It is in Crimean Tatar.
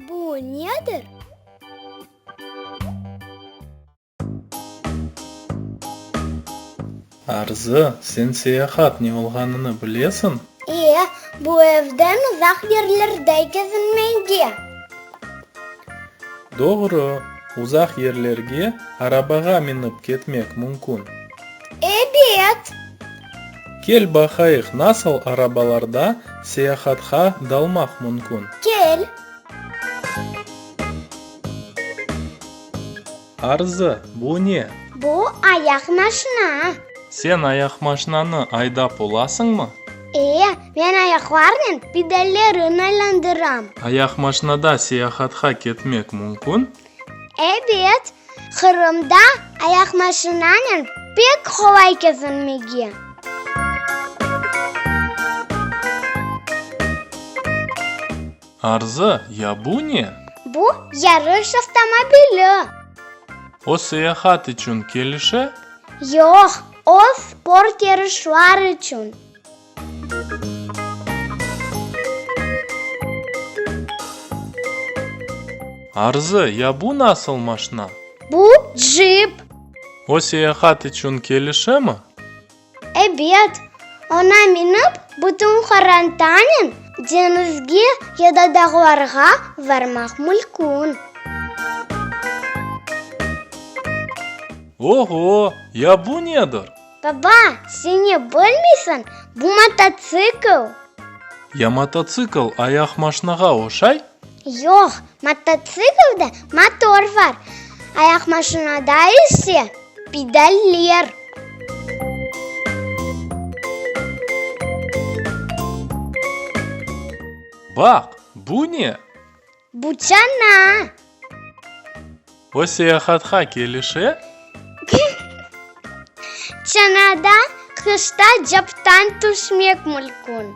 Bu nedir? Arzı, sen seyahat ne olğanını bilesiñ? E, bu evden uzaq yerlerde kezinmege. Doğru, uzaq yerlerge arabağa minip ketmek mümkün. Ebet! Kel baqayıq nasıl arabalarda seyahatqa dalmaq mümkün. Kel! Arzı, bu ne? Bu ayaq maşina. Sen ayaqmaşinanı aydap olasıñmı? E, men ayaqlarnen pedallerni aylandıram. Ayaqmaşinada seyahatqa ketmek mümkün? Ebet, Qırımda ayaqmaşinanen pek qolay kezinmege. Arzı, Ya bu ne? Bu, yarış avtomobili. O seyahat içün kelişe? Yoq, o sport yarışlar içün. Arzı, ya bu nasıl maşna? Bu, cip. O seyahat içün kelişemi? Ebet. Ona minip, bütün qorantanen deñizge ya da dağlarğa varmaq mülkün. Oho, ya bu nedir? Baba, sen ne bilmeysiñ, bu mototsikl. Ya mototsikl ayaq maşnağa oşay? Yoq, mototsiklde motor var, ayaq maşnada ise pedaller. Baq, bu ne? Bu çana. O seyahatqa kelişe? Çanada qışta captan tüşmek mülkün.